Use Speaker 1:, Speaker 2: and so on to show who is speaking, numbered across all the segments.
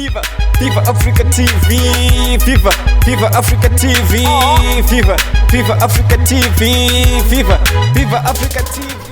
Speaker 1: Viva, Viva Africa TV, Viva, Viva Africa TV, Viva, Viva Africa TV, Viva, Viva Africa
Speaker 2: TV.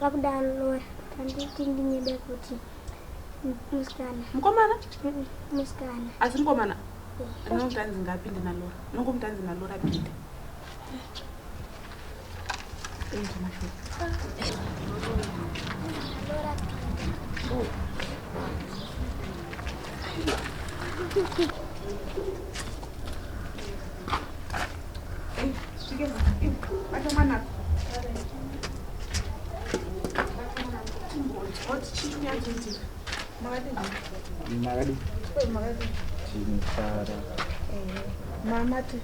Speaker 3: Pakudaro Lora panditi ndinyebe kuti musikana. Mukomana?
Speaker 4: Musikana.
Speaker 3: Asi mukomana?
Speaker 4: Nonganzi ngapinde naLora. Nongomutanzi naLora pinde. Thank you, Mashu. Lora pinde. Oh. Thank you.
Speaker 5: mamati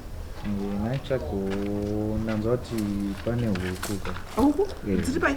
Speaker 5: naitsvagonanzwa kuti pane huku ka huku dziri pai